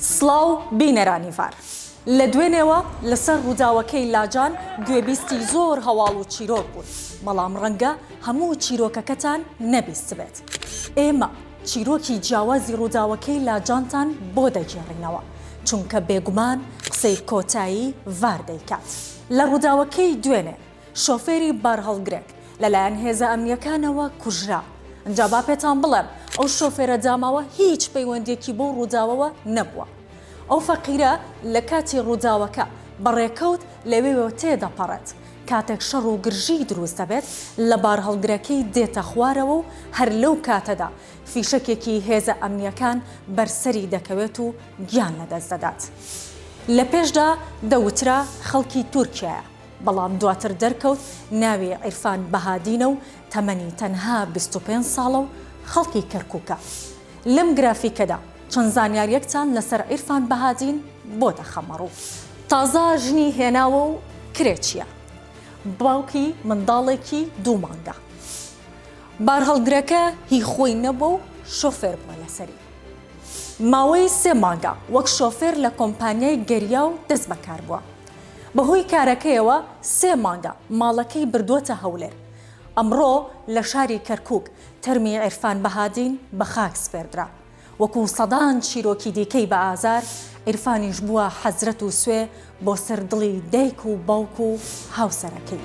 سڵاو بینەرانی ڤار. لە دوێنێوە لەسەر ڕووداوەکەی لاجان گوێبیستی زۆر هەواڵ و چیرۆک بوون، بەڵام ڕەنگە هەموو چیرۆکەکەتان نەبیستبێت. ئێمە چیرۆکی جیاوازی ڕووداوەکەی لاجانتان بۆ دەگێڕینەوە، چونکە بێگومان قسەی کۆتایی ڤار دەیکات لە ڕووداوەکەی دوێنێ. شۆفێری بارهەڵگرێک لەلایەن هێزە ئەمنییەکانەوە کوژرا. ئینجا با پێتان بڵێم ئەو شۆفێرە داماوە هیچ پەیوەندییەکی بەو ڕووداوەوە نەبووە. ئەو فەقیرە لە کاتی ڕووداوەکە بە ڕێکەوت لەوێوە تێ دەپەڕێت. کاتێک شەڕ و گرژی دروست دەبێت لە بارهەڵگرەکەی دێتە خوارەوە و هەر لەو کاتەدا فیشەکێکی هێزە ئەمنییەکان بەر سەری دەکەوێت و گیان لەدەست دەدات. لە پێشدا دەوترا خەڵکی تورکیایە. بەڵام دواتر دەرکەوت ناوی عیرفان بەهادینە و تەمەنی تەنها بیست و پێنج ساڵە و خەڵکی کەرکوکە. لەم گرافیکەدا چەند زانیاریەکتان لەسەر عیرفان بەهادین بۆ دەخەمەڕوو. تازە ژنی هێناوە و کرێچیە. باوکی منداڵێکی دوو مانگە. بارهەڵگرەکە هی خۆی نەبووە و شۆفێر بووە لەسەری. ماوەی سێ مانگە وەک شۆفێر لە کۆمپانیای گەریا و دەستبەکار بووە. بەهۆی کارەکەیەوە سێ مانگە ماڵەکەی بردووەتە هەولێر، ئەمڕۆ لە شاری کەرکووک تەرمی عیرفان بەهادین بە خاک سپێردرا، وەکو سەدان چیرۆکی دیکەی بە ئازار، عیرفانیش بووە حەسرەت و سوێ بۆ سەر دڵی دایک و باوک و هاوسەرەکەی.